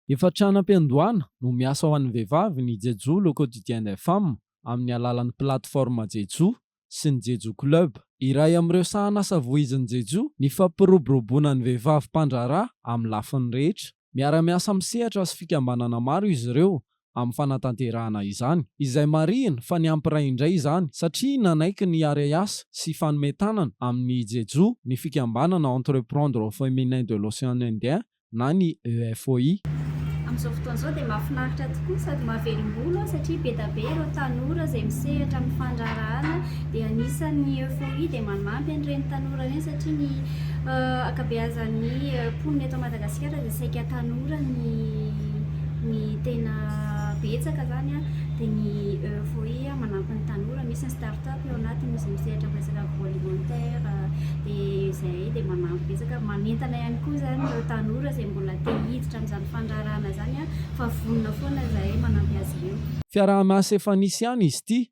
Efa tranam-piandohana no miasa ho an'ny vehivavy ny Jejoo le quotidien des femmes amin'ny alalan'ny plateforme Jejoo sy ny Jejoo Club. Iray amin'ireo sahanasa voizin'ny Jejoo ny fampiroboroboana ny vehivavy mpandraharaha amin'ny lafiny rehetra. Miara-miasa amin'ny sehatra sy fikambanana maro izy ireo amin'ny fanatanterahana izany, izay marihina fa niampiray indray izany satria nanaiky ny hiara-hiasa sy hifanome tanana amin'ny Jeju ny fikambanana Entreprendre au Feminin de l'Océan Indien na ny EFOI. Amin'izao fotoana izao dia mahafinaritra tokoa sady mahavelom-bolo aho satria bedabe ireo tanora izay misehatra amin'ny fandraharahana dia anisan'ny EFOI dia manampy an'ireny tanora ireny satria ny ankabeazan'ny mponina eto Madagasikara Madagasikara dia saika tanora ny ny tena betsaka izany an, dia ny EFOI manampy ny tanora, misy ny start up ao anatiny, misy ny sehatra miresaka agroalimentaire, dia izahay dia manampy betsaka, manentana ihany koa izany ireo tanora izay mbola te hiditra amin'izany fandraharahana izany an, fa vonona foana izahay manampy azy ireo. Fiaraha-miasa efa nisy ihany izy ity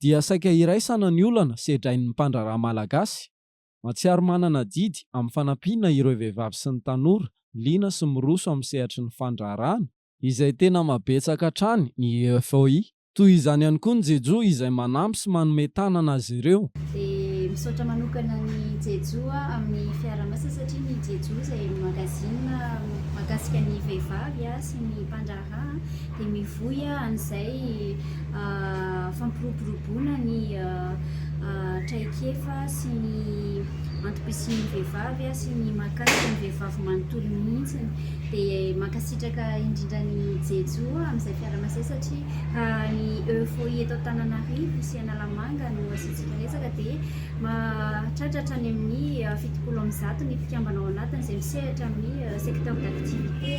dia saika iraisana ny olana sedrain'ny mpandraharaha malagasy. Mahatsiaro manana adidy amin'ny fanampiana ireo vehivavy sy ny tanora liana sy miroso amin'ny sehatry ny fandraharahana, izay tena mahabetsaka hatrany ny FOI. Toy izany ihany koa ny Jejo izay manampy sy manome tanana azy ireo. Dia misaotra manokana ny Jejo amin'ny fiaraha-miasa satria ny Jejo izay magazine mahakasika ny vehivavy sy ny mpandraharaha. Rà an, dia mivoy an'izay fampiroboroboana ny traikefa sy ny antom-pisian'ny vehivavy sy ny mahakasika ny vehivavy manontolo mihitsiny. Dia mankasitraka indrindra an'i Jejo amin'izay fiaraha-miasany satria raha ny EUFOI eto Antananarivo sy Analamanga no asiantsika resaka dia Mahatratra hatrany amin'ny fitopolo amby zato ny mpikambana ao anatiny izay misehatra amin'ny secteur d'activité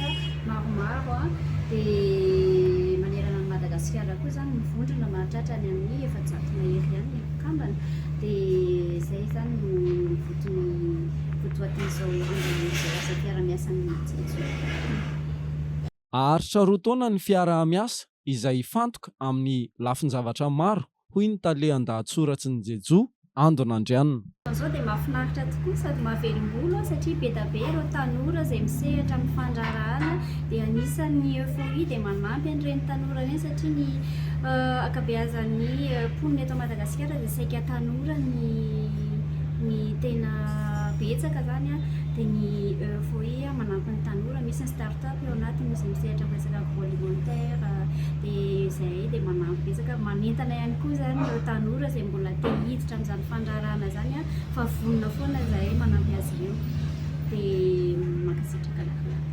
maromaro dia manerana an'i Madagasikara koa izany ny vondrona mahatratra any amin'ny efajato mahery ihany ny mpikambana dia izay izany no votoan'ny votoatin'izao andian'izao asam-piaramiasan'ny Tsiritsoriaka. Haharitra roa taona ny fiaraha-miasa izay hifantoka amin'ny lafin-javatra maro hoy ny tale an-dahatsoratry ny Jejoo, Andon' Andrianina. Izao dia mahafinaritra tokoa sady mahavelom-bolo an, satria be da be ireo tanora izay misehatra amin'ny fandraharahana dia anisan' ny Euphorie dia manampy an'ireny tanora ireny satria ny ankabeazan'ny mponina eto Madagasikara dia saika tanora ny ny tena betsaka izany an, dia ny Euphorie manampy ny tanora, misy ny Star. Tsapako eo anatiny misy misehatra am resaka volontaire dia izahay dia manampy betsaka manentana ihany koa izany ireo tanora izay mbola te hiditra am izany fandraharahana izany an fa vonona foana izahay manampy azy ireo dia mankasitraka lakolako.